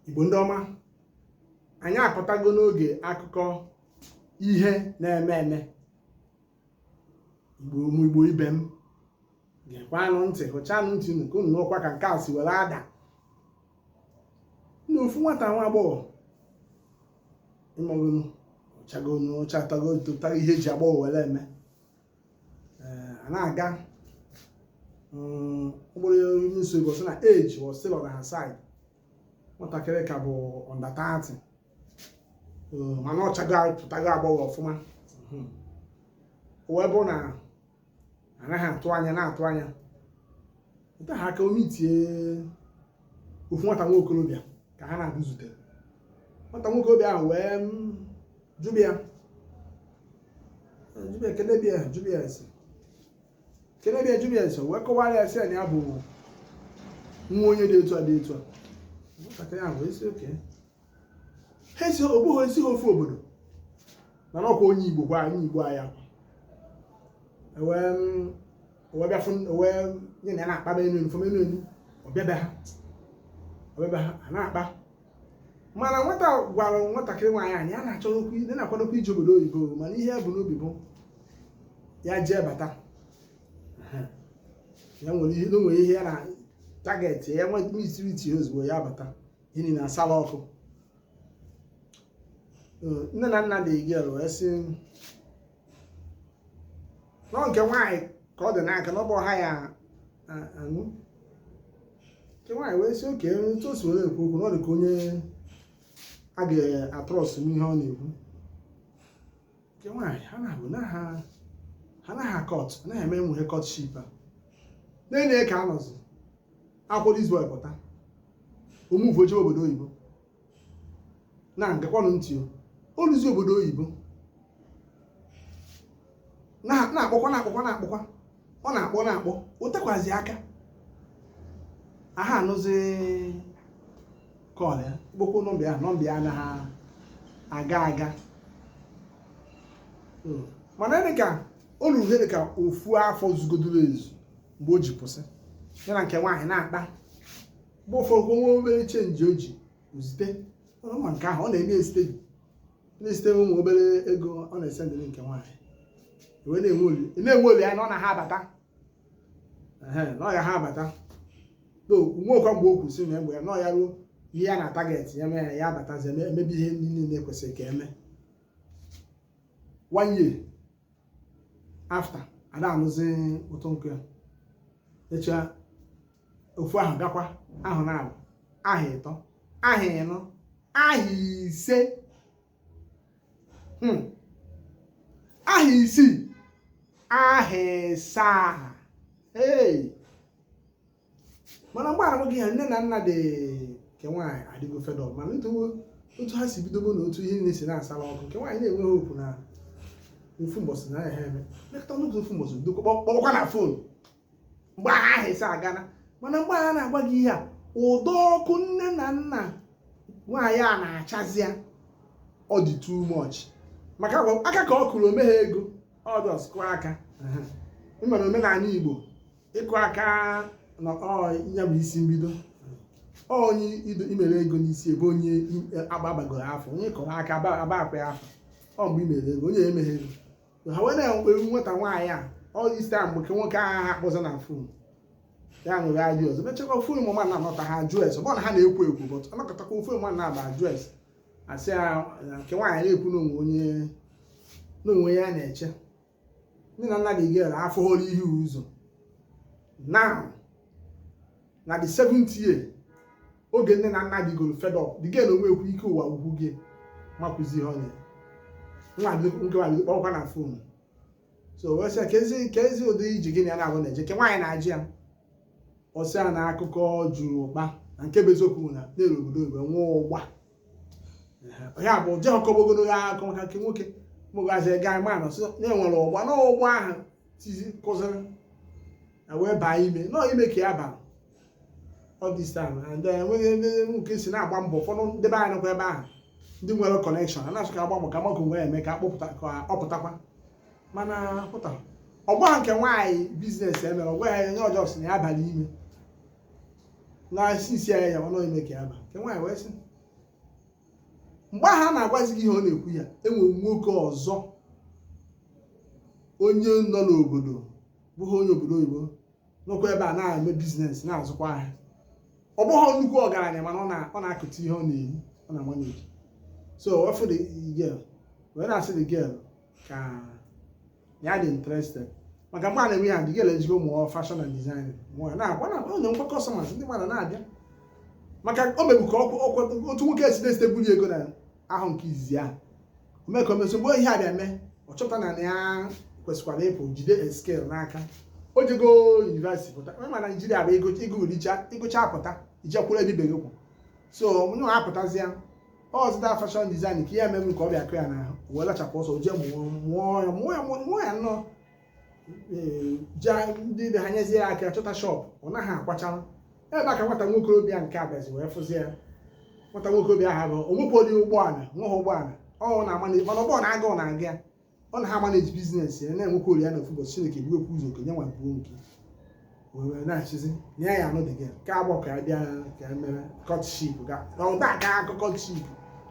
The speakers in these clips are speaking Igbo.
igbo ndị ọma anyị apụtago n'oge akụkọ ihe na-eme eme igbo ụmụ igbo ibe m gekwanụ ntị hụchanụ ntị unu ka unu nụkwa ka nke a si were ada na ofu nwata nwa agbọghọ ị magonu ọ chago na ọ chatago tụta ihe e ji agbọghọ were eme ee a na-aga mkpụrụ onye nso igbo sị na age was still on her side nwatakịrị ka bụ under thirty mana ọ chapụtago agbọghọ ọfụma hmm. o wee bụ na anaghị atụ anya na-atụ anya nta ha aka omi tie ofu nwata nwa okorobịa ka ha naabọ zutere nwata nwa okorobịa ahụ wee hmm, jụba ya jụba ya keneba ya jụba ya ese keneba ya jụba ya ese o wee kọwara ya sị na ya bụ nwa onye dị etu a dị etu a nwatakịrị ahụ wee sị okay ha esi ọ bụghị esi ha ofu obodo mana ọ kwa onye igbo kwa onye igbo anyị akwa ewee m- ewee bịa fụ ewee nye na ya na-akpa m enu enu fụ m enu enu ọ bịa be ha ọ bịa be ha a na-akpa mana nwata gwara nwatakịrị nwaanyị na ya na-achọ n'okwu ndị na-akwadokwa ije obodo oyibo mana ihe ya bu n'obi bụ ya jee bata ya nwere ihe na o nwere ihe ya na target ya nwe mitiriti ozugbo ya bata ihe niile asala ọkụ nne na nna the girl wee sị na ọ nke nwaanyị ka ọ dị n'aka na ọ bụ ha ya anụ nke nwaanyị wee sị okay otu o si were ekwu okwu na ọ dị ka onye a ga-atrust n'ihe ọ na-ekwu nke nwaanyị ha naabọ na ha ha na ha court anaghị eme enweghị courtship a na-enye ka anọzi akwụrụ izu pụta o move o jee obodo oyibo na gekwanụ ntị o luzi obodo oyibo na-akpọkwa na-akpọkwa na-akpọkwa ọ na-akpọ na-akpọ o tekwazi aka aha anụzi call ya kpọkwuo nọmba ya nọmba ya anaghị aga aga hmm. mana dị ka o luru ihe dị ka ofu afọ zugodoro ezu mgbe o ji pụsị ya na nke nwaanyị na-akpa mgbe ụfọdụ kwa nwa obere change o ji zite ị ma nke ahụ ọ na-eme ezite gị na-ezite ụmụ obere ego ọ na-esendiri nke nwaanyị wee na-enwe oli na-enwe olileanya na ọ na ha abata Ehe, na ọ ya ha abata o nwekwa mgbe o kwuru sị na mgbe ya na ọ ya ruo ihe ya na target ya mee ya ya abatazi eme- emebe ihe ndị niile ekwesịrị ka eme one year after ada anụzi ụtọ nkụ ya echa ofu aha gakwa aha naabọ aha ịtọ aha ịnọ aha ise hmm. aha isii aha ịsaa mana mgbe arụ gị ha nne na nna dị nke nwaanyị adịgo fed up mana otu ha si bido bụ na otu ihe niile si na-asala ọkụ nke nwaanyị na-enweghị okwu na ofu mbọsị na ya ha eme mekọta n'otu ofu mbọsị dokọ kpọkwa na fon mgbe ahụ aha isii agana mana mgbe ahụ na-agwa gị ihe a ụdị ọkụ nne na nna nwaanyị a na-achazi ya ọ dị too much maka aka ka ọ kụrụ o meghị ego ọ just kụọ aka ị mara omenala igbo ịkụ aka na ya bụ isi mbido onye i mere ego n'isi ebe onye agbabagoro afọ onye kụrụ aka aba akwa ya afọ ọ mgbe i mere ego onye emeghị ego ha wee na-enwe nwata nwaanyị a all this time bụ ka nwoke ahụ ha akpọzi na fon ya nwere ajụ ọzọ mechakwa ofu mmadụ na anọta ha ajụ ese ọ na ha na-ekwu ekwu bọt anọkatakwa ofu mmadụ na-abịa ajụ ese asị ya nke nwaanyị na-ekwu na o nwe onye n'onwe ya na-eche nne na nna dị gere afọ hụrụ ihe ụzọ now na the seventh year oge nne na nna dịgoro fed up dị gị na onwe ekwu ike ụwa agwụ gị ma kụzi ihe onye nwa gị nkewa gị kpọrọkwa na fon so wee sị ka ezi ka ezi ụdị ije gị na ya na-abụ na-eje nke nwaanyị na-ajụ ya ọ sị ya na akụkọ juru ụkpa na nke bụ eziokwu na na-eru obodo oyibo nwụọ ụgba ya bụ je ọkọgbogodo ya akọ maka nke nwoke mụgazi ga ma nọ sị na e nwere ụgba na ụgba ahụ tizi kụzịrị na wee baa ime na ọ ime ka ya bara all this time and then enweghị ebe nwoke si na-agba mbọ ụfọdụ ndị be anyị nọkwa ebe ahụ ndị nwere kọnekshọn a na-esokwa agba mbọ ka mmadụ nwee eme ka a kpọpụta ka ọ pụtakwa mana pụta ọgba nke nwaanyị biznes e mere ọ gwa ya nye ọjọọ sị na ya abaa ime na sisi ya ya na ọ ime ka ya ba nke nwaanyị wee sị mgbe ahụ a na-agwazi gị ihe ọ na-ekwu ya e nwere nwoke ọzọ onye nọ n'obodo bụghị onye obodo oyibo nọkwa ebe a na-eme biznes na-azụkwa ahịa ọ bụghị nnukwu ọgaranya mana ọ na-akụta ihe ọ na-eri ọ na manage so ọ fụ the girl wee na-asị the girl ka ya dị interested maka mgbe a na-eme ya the girl ejego mụọ fashion and design mụọ na-akwa na ọ na-enwekwa customers ndị mmadụ na-abịa maka o mebu ka ọ kwa otu nwoke si na-eziteburu ego na aha nke izizi ahụ o me ka o me so mgbe ihe a bịa mee ọ chọpụta na na ya kwesịkwara ịpụ jide skill n'aka o jego yunivesiti pụta onye ma naijiria bụ ego ego richa ị gụcha pụta i jekwuru ebe ibe gị kwụ so onye nwa apụtazịa ọ zụta fashion design ka ihe mere m ka ọ bịa kụ ya n'ahụ wee lachapụ ọsọ jee mụọ mụọ ya mụọ ya mụọ ya nnọọ ndị be ha nyezie ya aka chọta shop ọ naghị akwachanụ ebe a ka nwata nwokorobịa nke a bịazi wee fụzi ya nwata nwokorobịa ahụ bụ onwepụli ụgbọala nweghị ụgbọala ọ na-ama na mana ụgbọala aga ọ na-aga ya ọ na-amanage business ya na-enwekwa olileanya na ofu ụbọchị Chineke biwekwa ụzọ okenye nwa buo nke wee na-achịzi na ya ya anụ dị gị ka agbọ ka ya bịa ka ya mere courtship ga ụda ka akọ courtship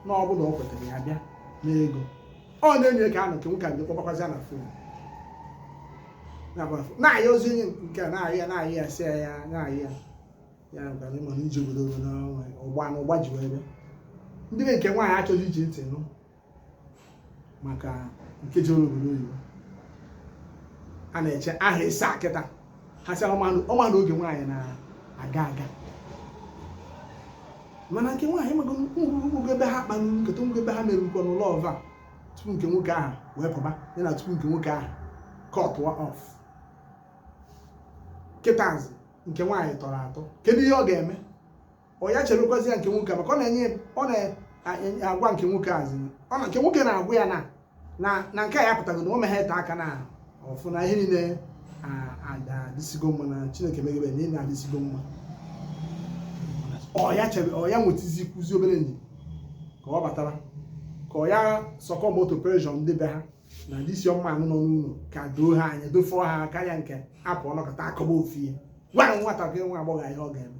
na ọ bụrụ ọ kwetara ya bịa n'ego ọ na-enye ka a nọ nke nwoke a bịa kpọkwazi ya na phone na-ayọzi onye nke a na-ayọ ya na-ayọ ya sị ya ya na-ayọ ya ya gbaghara ị ma na ije obodo obodo ọgba na ọgba ji wee bịa ndị be nke nwaanyị achọghị iji ntị nụ maka nke jere obodo oyibo a na-eche aha ịsa kịta ha sị ọ ma na oge nwaanyị na-aga aga mana nke nwaanyị mago ngwugwu ebe ha kpa nkata ngwugwu ebe ha mere nkọ n'ụlọ ọva tupu nke nwoke ahụ wee pụba ya na tupu nke nwoke ahụ cut off kịtazi nke nwaanyị tọrọ atọ kedu ihe ọ ga-eme ọ ya cherekwazi ya nke nwoke maka ọ na-enye ọ na-agwa nke nwoke azụ ọ na nke nwoke na-agwa ya na na na nke a ya pụtago na o meghe ete aka na ọ fụ na ihe niile adịsigo mma na Chineke megebe na ihe na-adịsigo mma ọ ya chebe ọ ya nwetezikwuzi obere ndidi ka ọ batara ka ọ ya succumb to pressure ndị be ha na ndị isi ọma ahụ nọ n'ụlọ ka doo ha anya dofọ ha karịa nke a pụ ọnọkọta akọba ofu ihe gwara nwatakịrị nwaagbọghọ ihe ọ ga-eme